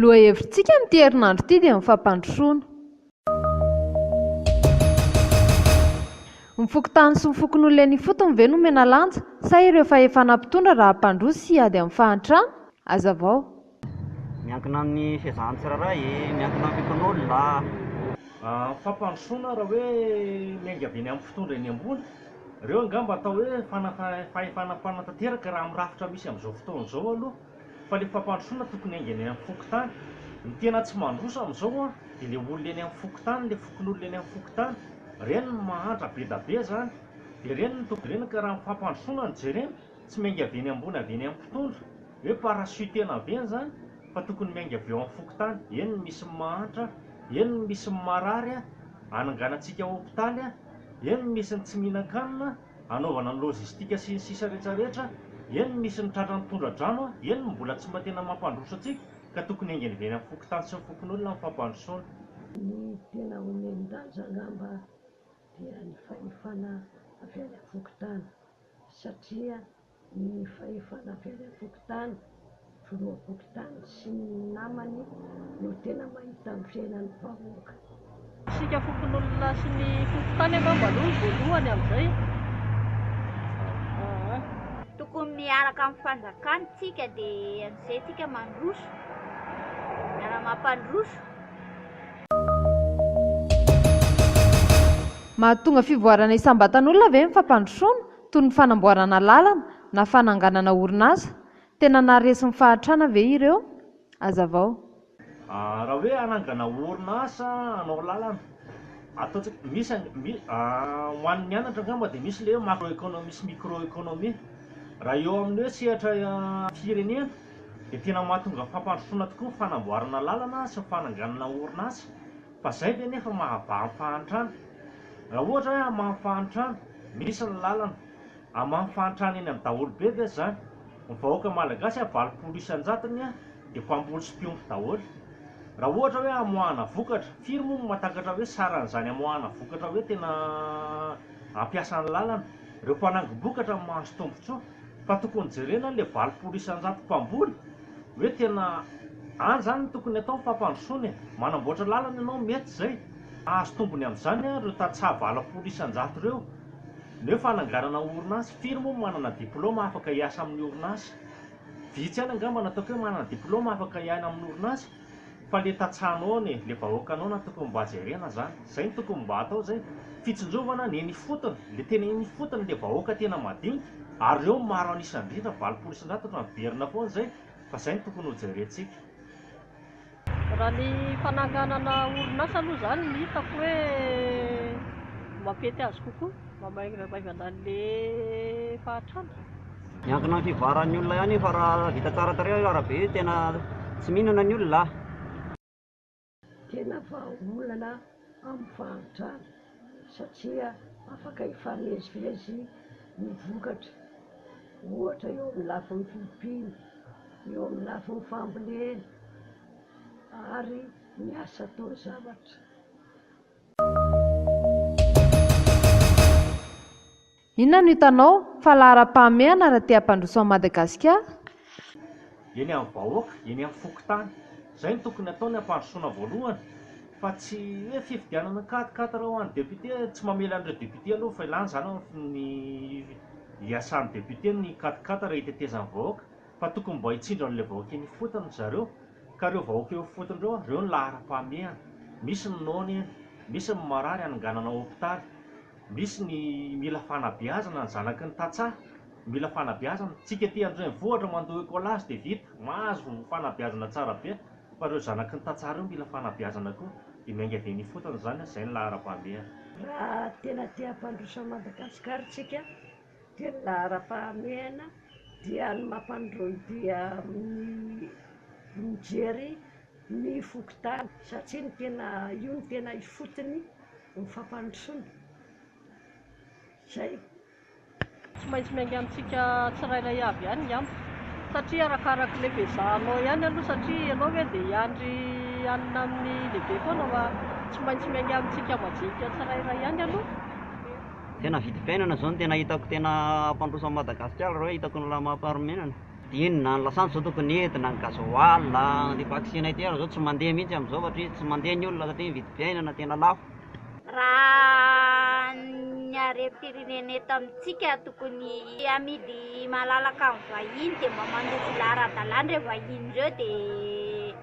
Lohahevin-tsika amin'ity herinandro ity dia ny fampandrosoana. Ny fokontany sy ny fokonolona eny ifotony ve no omena lanja sa ireo fahefana mpitondra raha hampandroso sy hiady amin'ny fahantrana? Hazavao. Miankina amin'ny fiezahan'ny tsirairay e! Miankina amin'ny fon'olona. Fampandrosoana raha hoe miainga avy eny amin'ny mpitondra eny ambony, ireo angamba atao hoe fahefana mpanatanteraka raha amin'ny rafitra misy amin'izao fotoana izao aloha, fa ilay fampandrosoana tokony hainga eny amin'ny fokontany. Ny tena tsy mandroso amin'izao an, dia ilay olona eny amin'ny fokontany, ilay fokonolona eny amin'ny fokontany. Ireny no mahantra be da be izany. Dia ireny no tokony jerena ka raha ny fampandrosoana no jerena, Tsy miainga avy eny ambony avy eny amin'ny mpitondra hoe parachute-na avy eny zany fa tokony miainga avy eo amin'ny fokontany, eny ny misy ny mahantra, eny ny misy ny marary ananganantsika hopitaly, eny ny misy ny tsy mihinan-kanina anaovana ny logistique sy ny sisa rehetra rehetra, eny ny misy ny tratran'ny tondra-drano, eny ny mbola tsy mba tena mampandroso antsika ka tokony haingana avy eny amin'ny fokontany sy ny fokonolona ny fampandrosoana. Ny tena omen-danja angamba dia ny fahefana avy any amin'ny fokontany satria ny fahefana avy any an-tokotany, filoham-pokontany sy ny namany no tena mahita ny fiainan'ny vahoaka. Isika fokonolona sy ny fokontany angamba aloha no voalohany amin'izay aa. Tokony miaraka amin'ny fanjakana tsika dia an'izay tsika mandroso miara-mampandroso. Mahatonga fivoarana isam-batan'olona ve ny fampandrosoana, toy ny fanamboarana lalana na fananganana orinasa? Tena naharesy ny fahantrana ve ireo? Hazavao. Raha hoe hanangana orinasa hanao lalana, ataontsika, misy ho an'ny mianatra angamba dia misy ilay hoe macro economie sy micro economie raha eo amin'ny hoe sehatra firenena. dia tena mahatonga fampandrosoana tokoa ny fanamboarana lalana sy ny fananganana orinasa fa izay ve anefa mahabaha ny fahantrana? Raha ohatra hoe hamaha ny fahantrana, misy ny lalana, hamaha ny fahantrana eny amin'ny daholobe ve izany? Ny vahoaka malagasy a valopolo isan-jatony a dia mpamboly sy mpiompy daholo. Raha ohatra hoe hamoahana vokatra, firy moa no mahatakatra hoe saran'izany hamoahana vokatra hoe tena hampiasa ny lalana? Ireo mpanangom-bokatra no mahazo tombontsoa fa tokony jerena ilay valopolo isan-jato mpamboly hoe tena any izany no tokony atao ny fampandrosoana e! Manamboatra lalana ianao mety izay, hahazo tombony amin'izany ary ireo tantsaha valopolo isan-jato ireo. Ny hoe fananganana orinasa, firy moa no manana diplaoma afaka hiasa amin'ny orinasa? Vitsy ihany angamba no ataoko hoe manana diplaoma afaka hiaina amin'ny orinasa. Fa le tantsahanao ne, le vahoakanao na tokony mba jerena zany, zay no tokony mba atao zay, fitsinjovana ny eny ifotony, le tena eny ifotony le vahoaka tena madinika, ary reo maro an'isa indrindra, valopolo isan-jato otrany miverina foana zay, fa zay no tokony ho jerentsika. Raha ny fananganana orinasa aloha zany no hitako hoe mampety azy kokoa. Mamainga maivana anle fahatrana. Miankina am fivoaran'ny olona ihany io fa raha vita tsara tarehy io arabe io tena tsy mihinana ny olona a! Tena vahaolana amin'ny fahantrana satria afaka hifamezivezy ny vokatra ohatra eo amin'ny lafiny fiompiana, eo amin'ny lafiny fambolena ary ny asa atao zavatra. Inona no hitanao fa laharam-pahamehana raha te hampandroso an'i Madagasikara? Eny amin'ny vahoaka, eny amin'ny fokontany. Izay no tokony hatao ny hampandrosoana voalohany fa tsy hoe fifidianana an quatre quatre ho an'ny député, tsy mamely an'ireo député aloha fa ilàny izany amin'ny iasan'ny député ny quatre quatre hitetezan'ny vahoaka. fa tokony mba hitsindry an'ilay vahoaka eny ifotony ry zareo, ka ireo vahoaka eo ifotony ireo, ireo no laharam-pahamehana, misy ny noana eny, misy ny marary hanonganana hopitaly, misy ny mila fanabeazana ny zanaky ny tantsaha, mila fanabeazana, tsika ety andrenivohitra mandoa écolage dia vita, mahazo fanabeazana tsara be, fa ireo zanaky ny tantsaha ireo mila fanabeazana koa, dia miainga avy eny ifotony izany, izay no laharam-pahamehana. Raha tena te hampandroso an'i Madagasikara isika Dia ny laharam-pahamehana dia ny mampanondroany dia amin'ny mijery ny fokontany satria ny tena io no tena ifotony ny fampandrosoana. Izay. Tsy maintsy miainga amintsika tsirairay avy ihany ngamba satria arakaraka ilay fiezahanao ihany aloha satria ianao ve dia hiandry hanina amin'ny lehibe foana fa tsy maintsy miainga amintsika majinika tsirairay ihany aloha. Tena vidy fiainana zao no tena hitako tena hampandroso an'i Madagasikara reo hitako ny lamam-paharimenana. Inona ny lasantsy zao tokony entina, ny gasoil a, ny vaksiny ity ary zao tsy mandeha mihintsy amizao satria tsy mandeha ny olona satria ny vidim-piainana tena lafo. Raha ny harem-pirenena eto amintsika tokony hamidy malalaka amin'ny vahiny dia mba mandeha tsy zara ara-dalàna ireo vahiny ireo dia.